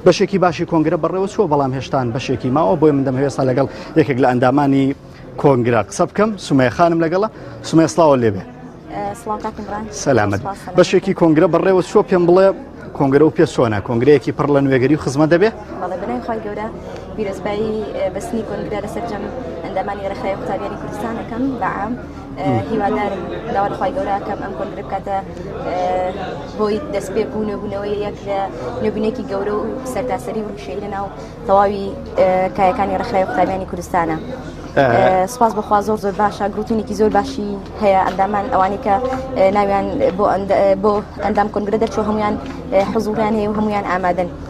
بەشێکی باشی کۆنگرە بەڕێوەچووە بەڵام هێشتان بەشێکی ماوە بۆی من دەمەوێت ئێستا لەگەڵ یەکێک لە ئەندامانی کۆنگرە قسە بکەم سومەیە خانم لەگەڵە سومەیە سڵاوە لێبێ سڵاو کاکە ئیمران. سەلامت سپاس سەلامت. بەشێکی کۆنگرە بەڕێوە چووە پێم بڵێ کۆنگرە و پێسۆنە کۆنگرەیەکی پڕ لە نوێگەری و خزمە دەبێ بەڵێ بەلای خی گەورە بیرۆزبایی بەستنی کۆنگرا لە سەرجەم ئەندامانی ڕێکخراوی قوتابیانی کوردستان ئەەکەم بەعام هیوادارم داوات خی گەوراکەم ئەم کۆنگرە بکاتە بۆی دەست پێ بوو نوێبوونەوەی یەک لە نوێبنێکی گەورە و سەرتاسەری وشەی لە ناو تەواوی کایەکانی ڕخرای قوتابیانی کوردستانە. سپاس بەخوا زۆر زۆر باشە گروتونێکی زۆر باشی هەیە ئەندامان ئەوانی کە ناویان بۆ بۆ ئەندام کۆنگرە دەرچوە هەمویان حزوریان هەیە و هەمویان ئامادەن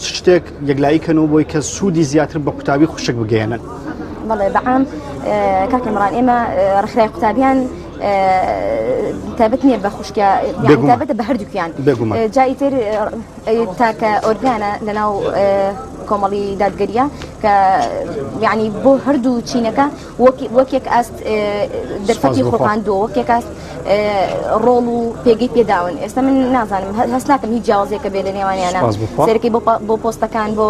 چ شتێک یەکلایی کەن و بۆی کە سوودی زیاتر بە قوتابی خوشک بگەێنن بەڵێ بەعام کاکە مڕان ئێمە ڕخرای قوتابیان تابەت نییە بە خوشکیا تابەتە بە هەردووکیان جای تر تاکە ئۆرگانە لەناو کۆمەڵی دادگەریە کە یعنی بۆ هەردوو چینەکە وەک یەک ئاست دەرفەتی خۆپاندووە وەک یەک ئاست ڕۆڵ و پێگەی پێداون ئێستا من نازانم هەست ناکەم هیچ جیاوازێکە بێ لە نێوانیانە سەرەکەی بۆ پۆستەکان بۆ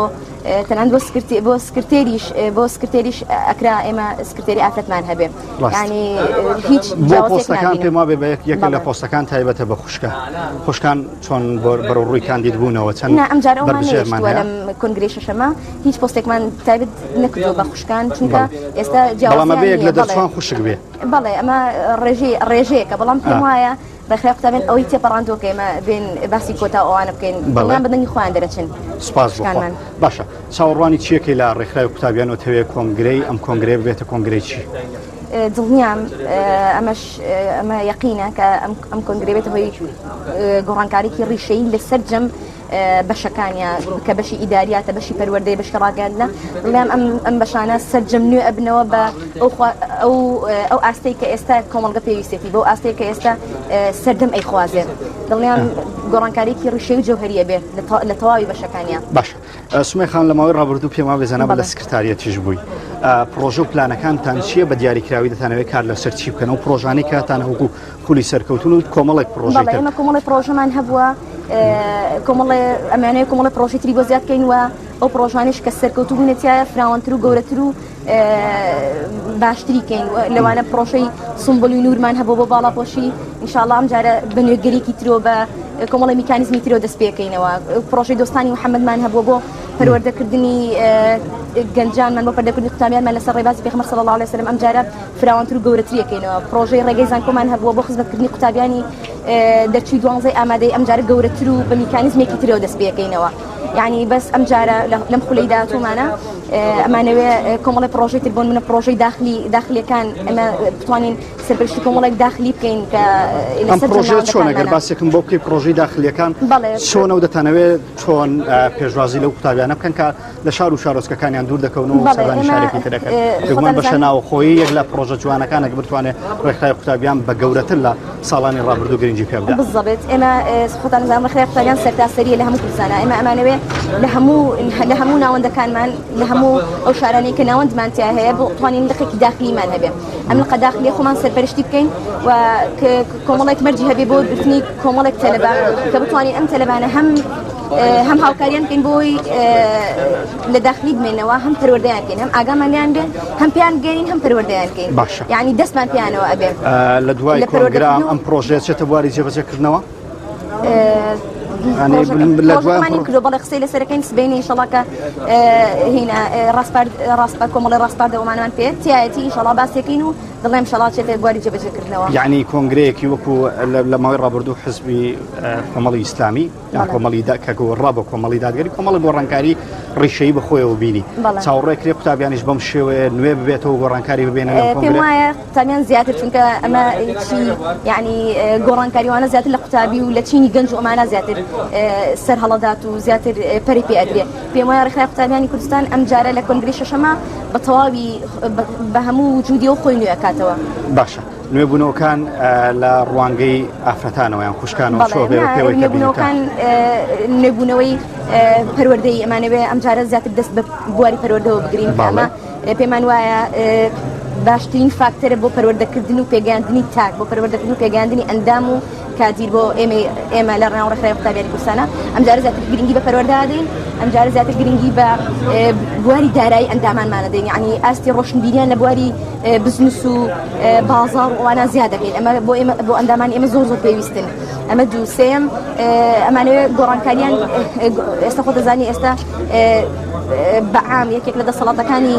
تەنان بۆ سکرتی بۆ سکرتێریش بۆ سکرتێریش ئەکرا ئێمە سکرتێری ئافرەتمان هەبێ ینی هیچ پۆستەکان پێما بێ بە یەکێکە لە پۆستەکان تایبەتە بە خوشکە خوشکان چۆن بەرەو ڕووی کاندید بوونەوە چەند نا ئەم جارە ئەومان بەرژێرمان نەیشتووە هەیە؟ لەم کۆنگرەی شەشەمە هیچ پۆستێکمان تایبەت نەکردووە بە خوشکان چونکە بەڵێ. ئێستا بەڵام جیاوازیان ئەبێ یەک نییە لە بەڵێ دەرچوان خوشک بێ بەڵێ ئەمە ڕێژەی ڕێژەیەکە بەڵام پێم ئا. وایە ڕێکخراوی قوتابیان ئەوەی تێپەڕاندووە کە ئێمە بێین باسی کۆتا و ئەوانە بکەین بەڵێ. دڵنیام بە دەنگی خۆیان دەرەچن سوپاس بۆ خوا خوشکانمان باشە چاوەڕوانی چییەکەی لە ڕێکخراوی قوتابیان ئەتەوێ کۆنگرەی ئەم کۆنگرەیە ببێتە کۆنگرەی چی؟ دڵنیام ئەمەش ئەمە یەقینە کە ئەم کۆنگرەی بێتە هۆی گۆڕانکاریی ڕیشەیی لە سەرجەم بەشەکانیان کە بەشی ئیداریاتە بەشی پەروەردەی بەشی ڕاگەاندنە بڵێم ئەم ئەم بەشانە سەررجەم نوێ ئەبنەوە بە ئەو ئەو ئاستەی کە ئێستا کۆمەڵگە پێویستێتی بۆ ئاستەیە کە ئێستا سەردەم ئەیخوازێت دڵنیان گۆڕانکاریی ڕیشەی و جوهریە بێت لە تەواوی بەشەکانیان باش سومەی خان لە ماوەی ڕابردوو پێم وابێ جەنابت لە سکرتاریەتیش بووی پرۆژە و پلانەکانتان چییە بە دیاریکراوی دەتانەوەی کار لەسەر چی بکەن و پرۆژانی کاتان هەوکو خولی سەرکەوتون و کۆمەڵێک پرۆژە ئێمە کۆمەڵی پرۆژەمان هەبووە کۆمەڵێ ئەمانەیە کۆمەڵە پرۆژیتری بۆ زیادکەین وە ئەو پرۆژانش کە سەرکەوتوبوونەتیایە فراوانتر و گەورەتر و باشتری کەین لەوانە پرۆشەی سمبلی نورمان هەبوو بۆ باڵاپۆشی انشاءله ئەم جارە بە نوێگەرێکی ترۆ بە کۆمەڵی میکانزمی ترۆ دەست پێکەینەوە پرۆشەی دۆستانی محەممەدمان هەبوو بۆ پەروەردەکردنی گەنجانمان بۆ پەردەکردنی قوتابیانمان لەسەر ڕێبازی پێخمە سەڵ الله لەسەرم ئەم جارە فراوانتر و گەورەتریەکەینەوە پرۆژەی ڕێگەی زانکۆمان هەبووە بۆ خزمەتکردنی قوتابیانی دەرچوی دوانزەی ئامادەی ئەم جارە گەورەتر و بە میکانزمێکی ترەوە دەست پێکەینەوە یانی بەس ئەم جارە لەم خولەی داهاتوومانە ئەمانەوێ کۆمەڵی پرۆژەی تر بۆن منە پرۆژەی داخلی داخلیەکان ئەمە بتوانین سەرپشتی کۆمەڵێک داخلی بکەین کە پرۆژە چۆن گەر باسێکم بۆ بکەی پرۆژەی داخلیەکان چۆن و دەتانەوێت چۆن پێشوازی لەو قوتابیانە بکەن کە لە شار و شارۆچکەکانیان دوور دەکەون و شارێکی ترەکەن بەشە ناوخۆی یەک لە پرۆژە جوانەکانە بتوانێت ڕێکخای قوتابیان بە گەورەتر لە ساڵانی ڕابردوو گرنگی پێ بدە بزەبێت ئێمە خۆتان زانمە خراپ پەیان سەرتاسەریە لە هەموو کوردستانە ئێمە ئەمانەوێ لە هەموو لە هەموو ناوەندەکانمان لە هەموو ئەو شارانی کە ناوەندمان تیا هەیە بۆ توانین لقێکی داخلیمان هەبێ ئەم لقە داخلی خۆمان سەرپەرشتی بکەین و کۆمەڵێک مەرجی هەبێ بۆ گرتنی کۆمەڵێک تەلەبا کە بتوانین ئەم تەلەبانە هەم هەم هاوکاریان بکەین بۆی لە داخلی بمێنەوە هەم پەروەردەیان بکەین هەم ئاگامان لیان بێن هەم پێیان بگەین هەم پەروەردەیان بکەین باشە یعنی دەستمان پیانەوە ئەبێ لە دوای لە پرۆگرام ئەم پرۆژەیە چێتە بواری جێبەجێکردنەوە بەڵێ قسەی لەسەرەکەین سبینی شڵاکە هینا ڕاستپە کۆمەڵی ڕاستپار دەومانان پێ تایەتی شڵا باسێکین و دڵێم شڵا چێتە گواری جێبەجێکردنەوە یعنی کۆنگرەیەکی وەکو لە ماوەی ڕابردوو حزبی کۆمەڵی ئیسلامی کۆمەڵی دا کە گۆڕا بە کۆمەڵی دادگەری کۆمەڵە گۆڕانکاری ڕیشەی بەخۆیەوە بینی بەڵێ. چاوڕێ کرێ قوتابیانیش بەم شێوەیە نوێ ببێتەوە گۆڕانکاری ببێنە لەم پێم کۆنگرە وایە قوتابیان زیاتر چونکە ئەمە چی یعنی اه، گۆڕانکاریوانە زیاتر لە قوتابی و لە چینی گەنج و ئەمانە زیاتر اه، سەر هەڵەدات و زیاتر اه، پەری پێ ئەدرێ پێم وایە ڕێکخراوی قوتابیانی کوردستان ئەم جارە لە کۆنگری شەشەما بە تەواوی اه، بە- بە هەموو وجودی و خۆی نوێ ئەکاتەوە باشە نوێبوونەوەکان لە ڕوانگەی ئافرەتانەوە یان خوشکانەوە نوێبوونەوەکان نوێبوونەوەی پەروەردەی ئەمانەوێ ئەمجارە زیاتر دەست بە بواری پەروەردەوە بگرین باڵە پێمان وایە باشترین فاکتەرە بۆ پەروەردەکردن و پێگەاندنی تاک بۆ پەروەردەکردن و پێگەاندنی ئەندام و کادیر بۆ ئێمەی ئێمە لە ڕێناو ڕێکخراوی قوتابیانی کوردستانە ئەمجارە زیاتر گرنگی بە پەروەردە دەین ئەمجارە زیاتر گرنگی بە بواری دارایی ئەندامانمانە دەین یعنی ئاستی ڕۆشنبیریان لە بواری بزنس و بازار و ئەوانە زیاد دەکەین ئەمە بۆ ئێمە بۆ ئەندامان ئێمە زۆر زۆر پێویستن ئەمە دوو سێم ئەمانەوێ گۆڕانکاریان ئێستا خۆ دەزانی ئێستا بەعام یەکێک لە دەسەڵاتەکانی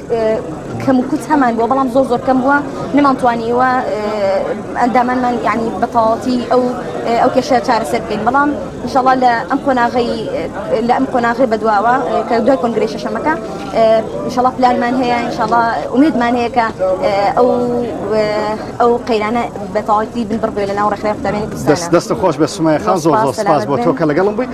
کەمکوت هەمان بووە بەڵام زۆر زۆر کەم بووە نەمانتوانیوە ئەندامانمان ینی بەتەواتی ئەو ئەو کێشە چارەسەر بکەین بەڵام انشاءڵا لە ئەم قۆناغی لە ئەم قۆناغی بەدواوە کە دوای کۆنگری شەشەمەکە انشاءڵا پلانمان هەیە انشاءڵا ئومێدمان هەیە کە ئەو ئەو قەیرانە بەتەواتی بن بڕبێ لە ناو ڕێکخراوی قوتابیانی کوردستان دەست دەست خۆش بە سومای خان زۆر زۆر سپاس بۆ تۆ کە لەگەڵم بووی